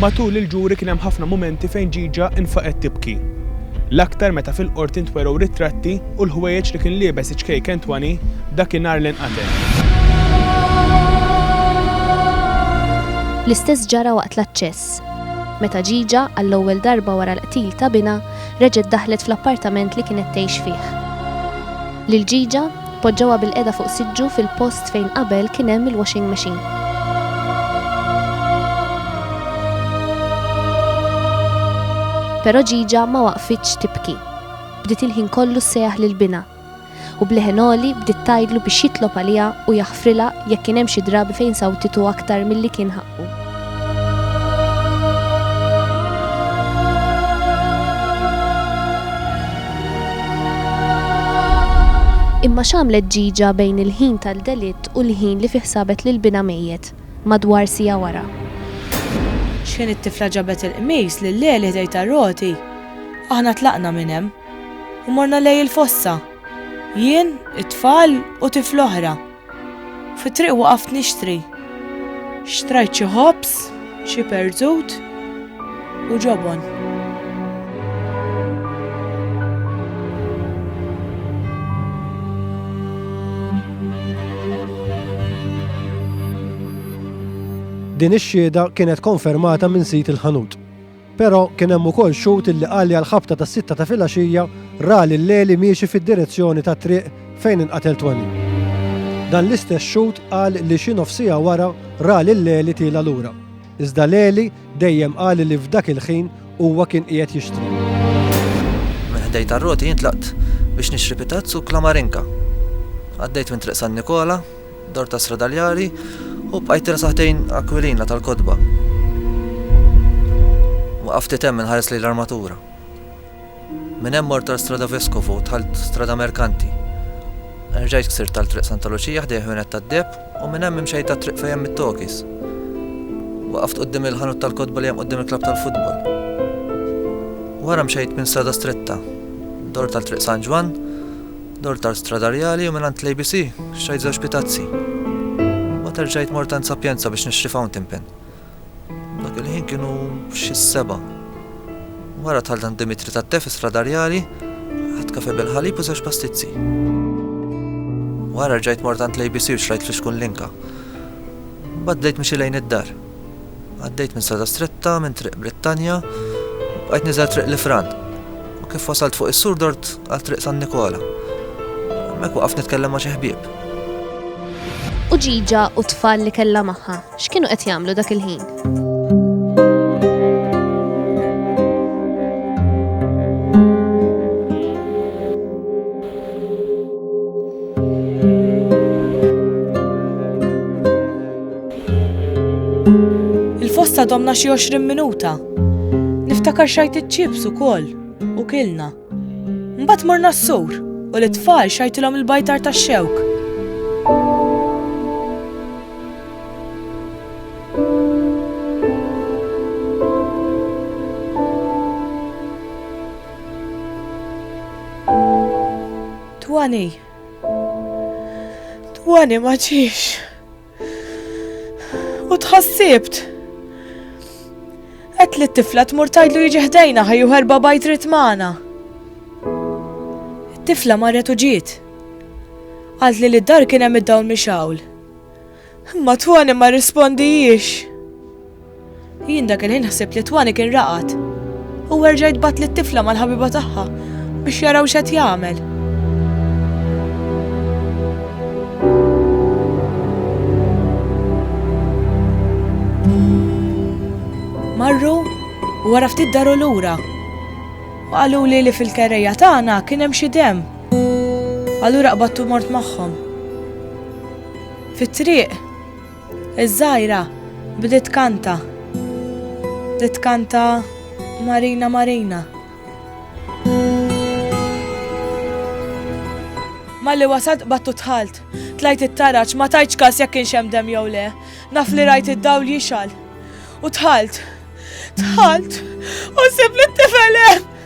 Matul il-ġuri kien hemm ħafna mumenti fejn Gigia nfaqgħet tibki. L-aktar meta fil-Qorti ntwerew ritratti u l-ħwejjeġ li kien liebes iċ-ċkejk Antoine dakinhar li nqatel. L-istess ġara waqt l-aċċess. Meta Gigia għall-ewwel darba wara l-qtil ta' binha reġgħet daħlet fl-appartament li kienet tgħix fih. Lil Gigia Poġġewha bilqiegħda fuq siġġu fil-post fejn qabel kien hemm il-washing machine. Però Ġiġa ma waqfitx tibki. Bdiet il-ħin kollu ssejjaħ lil binha. U b'leħen għoli bdiet tgħidlu biex jitlob għaliha u jaħfrilha jekk kien hemm xi drabi fejn sawtitu aktar milli kien ħa. Imma x'għamlet Ġiġa bejn il-ħin tal-delitt u l-ħin li fih sabet lil binha mejjet, madwar siegħa wara? Xħin it-tifla ġabet il-qmis lil Leli ħdejn tar-roti, aħna tlaqna minn hemm u morna lejn il-fossa, jien, it-tfal u tifla oħra. Fit-triq waqaft nixtri. Xtrajt xi ħobż, xi perżut u ġobon. Din ix-xhieda kienet konfermata minn sid il-ħanut. Però kien hemm ukoll xhud illi qalli għall-ħabta tas-sitta ta' filgħaxija ra lil Leli miexi fid-direzzjoni tat-triq fejn inqatel Toni. Dan l-istess xhud qal li xi nofs siegħa wara ra lil Leli tiela' lura. Iżda Leli dejjem qal li f'dak il-ħin huwa kien qiegħed jixtri. Minn ħdejn tar-roti jien tlaqt biex nixtri pitazz u klamarinka. Għaddejt minn Triq San Nikola, Dor ta' Sradaljari u bqajt rasatejn Aquilina tal-kotba. Waqaft ftit hemm inħares lejn l-armatura. Minn hemm mort għal Strada Vescovo u dħalt Strada Mercanti. Erġajt ksirt għal Triq Santa Luċija ħdejh ħwienet tad-deheb u minn hemm imxejt għat-triq fejn hemm it-tokis. Waqaft quddiem il-ħanut tal-kotba li hemm quddiem il-klabb tal-futbol. Wara mxejt minn strada stretta, dort għal Triq San Ġwann, Dortal Stradarjali u mingħand l-ABC xtrajt żewġ pitazzi. Mbagħad erġajt mort għand Sapienza biex nixtri fountain pen. Dak il-ħin kienu xi seba'. Wara tħalt għand Dimitri tat-te fi Stradarjali, ħadd kafe bil-ħalib u żewġ pastizzi. Wara rġajt mort għand l-ABC u xtrajt fl-ixkun linka. Mbagħad bdejt mixi lejn id-dar. Għaddejt minn strada stretta minn Triq Brittanja u bqajt niżel Triq Lifran. U kif wasalt fuq is-sur dort għal Triq San Nikola. Hemmhekk waqaf nitkellem ma' xi ħbieb. U ġiġa u tfal li kellha magħha, x'kienu qed jagħmlu dak il-ħin? Il-fosta domna xi 20 minuta. Niftakar xajt iċ-ċips ukoll u kilna. Mbagħad morna s-sur u l-itfal xajtilhom il-bajtar tax-xewk. Twani. Twani ma ġiex. U tħassibt. Qed li t-tifla tmur tajdlu jiġi ħdejna ħajju ħerba bajt rit magħna. Tifla marret u ġiet. Għalt li l-dar kien hemm id-dawl mixawl. Ma twani ma rrispondijiex. Jien dak il-ħin ħsibt li t-twani kien raqad. Huwa rġa' jitbgħat lit-tifla mal-ħabiba tagħha biex jaraw x'qed jagħmel. Marru u wara ftit daru lura. U qalu li li fil-kerreja tagħna kien hemm xi dem. Allura qbadtu mort magħhom. Fit-triq Iż-żgħira bdiet tkanta, bdiet tkanta Marina Marina. Malli wasalt qbadt u dħalt. Tlajt it-taraġ, ma tajtx każ jekk kienx hemm demm jew le. Naf li rajt id-dawl jixgħal. U dħalt. Dħalt. U sib li t-tifel hemm.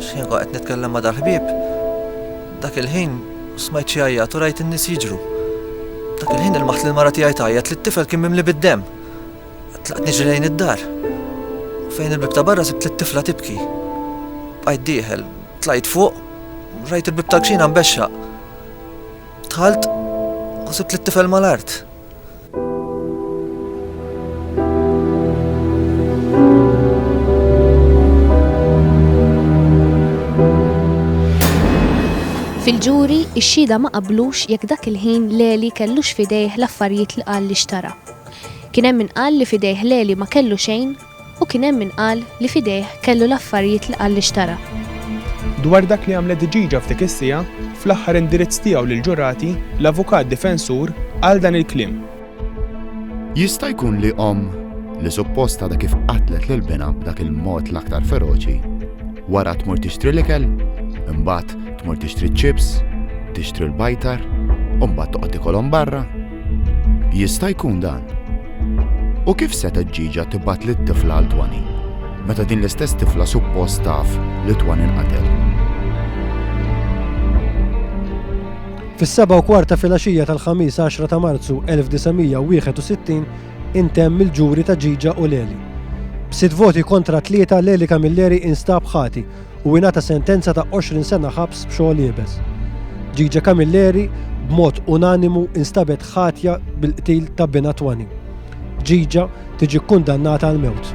X'ħin qed nitkellem ma' dal-ħbieb, dak il-ħin smajt xi għajjat u rajt in-nies jiġru. Dak il-ħin ilmaħt lil mara tiegħi tgħajjat li t-tifel kien mimli bid-demm. Tlaqt niġri lejn id-dar. Fejn il-bib ta' barra sibt lit-tifla tibki. Bqajt dieħel, tlajt fuq, rajt il-bib tal-kxina mbexxaq. Tħalt u sibt lit-tifel mal-art. Fil-ġuri, ix-xhieda ma qablux jekk dak il-ħin Leli kellux fidejh l-affarijiet li qal li xtara. Kien hemm min qal li fidejh Leli ma kellu xejn U kien hemm min qal li f'idejh kellu l-affarijiet li qal li xtara. Dwar dak li għamlet dġiġa f'dik is-siegħa, fl-aħħar indirizz tiegħu lill-ġurati, l-avukat difensur qal dan il-kliem. Jista' jkun li omm, li suppost għadha kif qatlet lil binha b'dak il-mod l-aktar feroċi, wara tmur tixtri l-ikel, imbagħad tmur tixtri ċ-ċips, tixtri l-bajtar, u mbagħad toqgħod tikolhom barra? Jista' jkun dan. U kif setgħet ġieġa tibgħat lit-tifla għal Twani, meta din l-istess tifla suppost taf li Twani nqatel? Fis-seba' u kwart ta' filgħaxija tal-Ħamis 10 ta' Marzu 1961 intemm il-ġuri ta' Ġiġa u Leli. B'sitt voti kontra tlieta Leli Camilleri instab ħati u ingħata sentenza ta' 20 sena ħabs b'xogħol iebes. Gigi Camilleri b'mod unanimu instabet ħatja bil-qtil ta' binha Twani. Gigi tiġi kkundannata għal mewt.